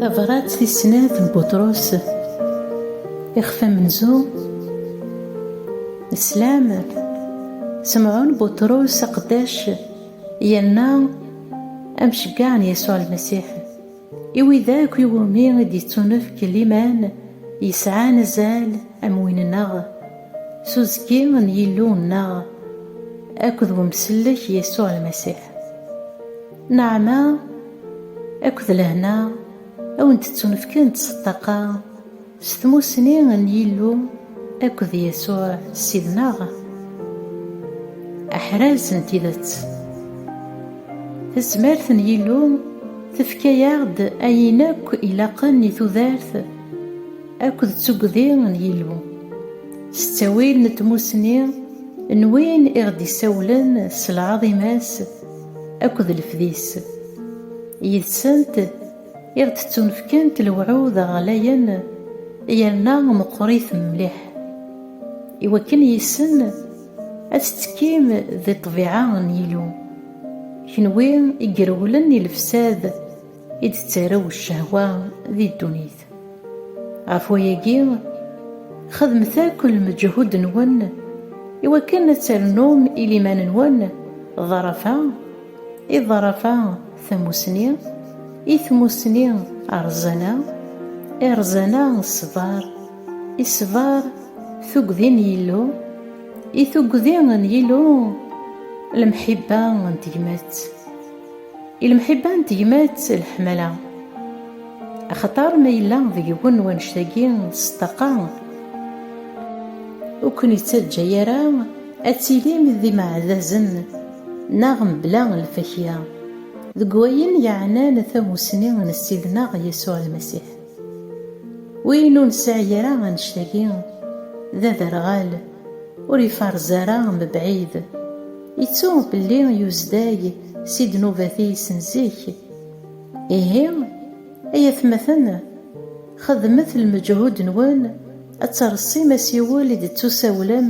Tabrat tis snat n Buṭrus, ixef amenzu, Slam, Semɛun Buṭrus aqeddac yerna amceggaɛ n Yasuɛ Lmasiḥ. I wid akk i wumi i d-yettunefk liman yesɛan azal am win-nneɣ, s uzekki n Yillu-nneɣ akked wemsellek Yasuɛ Lmasiḥ. Nneɛma akked lehna a wen-d-ttunefkent s ṭṭaqa. S tmussni n Yillu akked Yasuɛ Ssid-nneɣ, aḥraz n tidet. Tezmert n Yillu tefka-aɣ-d ayen akk ilaqen i tudert akked d tuggdi n Yillu. S ttawil n tmussni n win i ɣ-d-isawlen s lɛaḍima-s akked lefdi-s, yid-sent, I ɣ-d-ttunefkant lewɛud ɣlayen yerna meqqrit mliḥ, i wakken yis-sen ad tettekkim di ṭṭbiɛa n Yillu, kenwi i irewlen i lefsad i d-tettarew ccehwa di ddunit. Ɣef wayagi, xedmet akk lmeǧhud-nwen i wakken ad ternum i liman-nwen ḍḍarafa i ḍḍarafa Tamusni, i tmusni rrẓana, i rrẓana ṣṣber, i ṣṣber tuggdi n Yillu, i tuggdi n Yillu lemḥibba n tegmat, i lemḥibba n tegmat leḥmala. Axaṭer ma yella deg-wen wannect-agi s ṭṭaqa, ur ken-ittaǧǧa ara ad tilim d imeɛdazen, Neɣ mebla lfakya. Deg wayen yeɛnan tamussni n Ssid-nneɣ Yasuɛ Lmasiḥ. Win ur nesɛi ara annect-agi, d aderɣal, ur ifarez ara mebɛid. Ittu belli yuzday si ddnubat-is n zik. Ihi, ay atmaten, Xedmet lmeǧhud-nwen ad terṣim asiwel i d-tettusawlem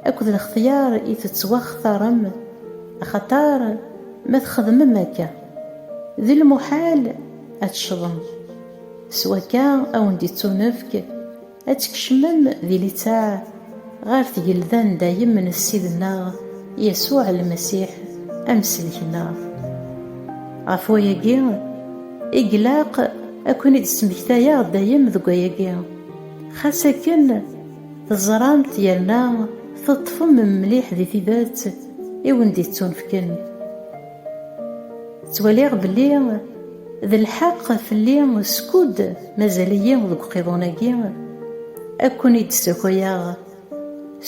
akked lextyar i tettwaxtarem, axaṭer ma txedmem akka, d lmuḥal ad teccḍem. S wakka, a wen-d-ittunefk ad tkecmem di litteɛ ɣer tgelda n dayem n Ssid-nneɣ Yasuɛ Lmasiḥ, Amsellek-nneɣ. Ɣef wayagi i ilaq ad ken-id-smektayeɣ dayem deg wayagi, xas akken teẓramt yerna teṭṭfem mliḥ di tidet i wen-d-ittunefken. Ttwaliɣ belli d lḥeq fell-i skud mazal-iyi deg uqiḍun-agi, ad ken-id-ssakayeɣ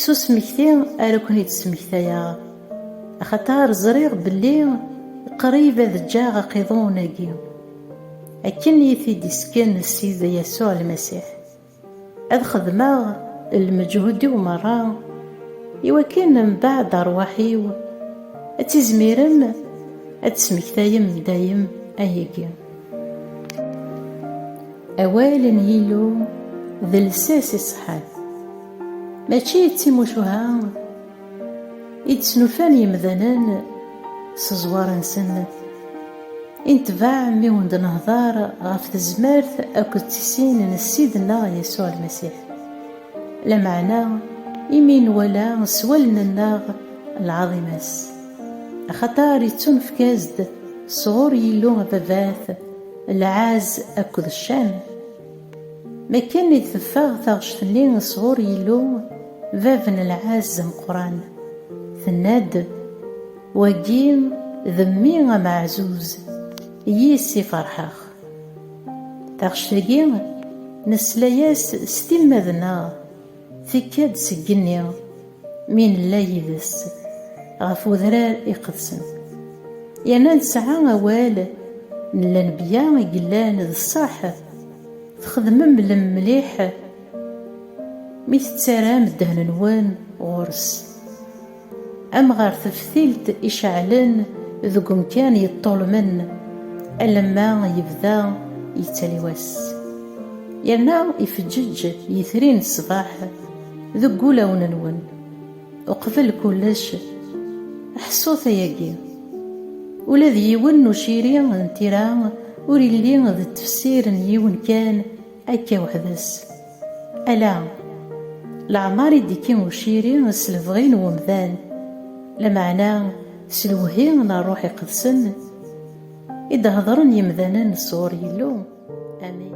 s usmekti ara ken-id-smektayeɣ, axaṭer ẓriɣ belli qrib ad ǧǧeɣ aqiḍun-agi, akken i yi-t-id-isken Ssid Yasuɛ Lmasiḥ. Ad xedmeɣ lmeǧhud-iw merra, i wakken mbaɛd arwaḥ-iw ad tizmirem ad tesmektayem dayem ayagi. Awal n Yillu d lsas iṣeḥḥan, mačči d timucuha. I d-snulfan yemdanen s ẓẓwar-nsen, i netbeɛ mi wen-d-nehder ɣef tezmert akked tisin n Ssid-nneɣ Yasuɛ Lmasiḥ. Lameɛna imi nwala s wallen-nneɣ lɛaḍima-s, axaṭer ittunefk-as-d sɣur Yillu Ababat lɛezz akked ccan, Mi akken i d-teffeɣ taɣect-nni sɣur Yillu, bab n lɛezz ameqqran, tenna-d, Wagi d Mmi ameɛzuz, yis-s i ferḥeɣ. Taɣect-agi, nesla-yas s timmad-nneɣ Tekka-d seg igenni mi nella yid-s ɣef udrar iqedsen, yerna nesɛa awal n Lenbya i yellan d ṣṣeḥ, texdem mlem mliḥ mi tettaram ddehn-nwen ɣur-s, am ɣer teftilt iceɛlen deg umkan yeṭṭulmen, alamma yebda yettali wass. Yerna ifeǧǧeǧ yitri n ṣṣbeḥ deg wulawen-nwen. Uqbel kullec, ḥṣut ayagi, ula d yiwen n uciri n tira ur illi d tefsir n yiwen kan akka weḥd-s. Ala, leɛmer i d-ikki uciri s lebɣi n umdan, lameɛna s lewhi n Ṛṛuḥ Iqedsen i d-hedren yemdanen sɣur Yillu. Amin.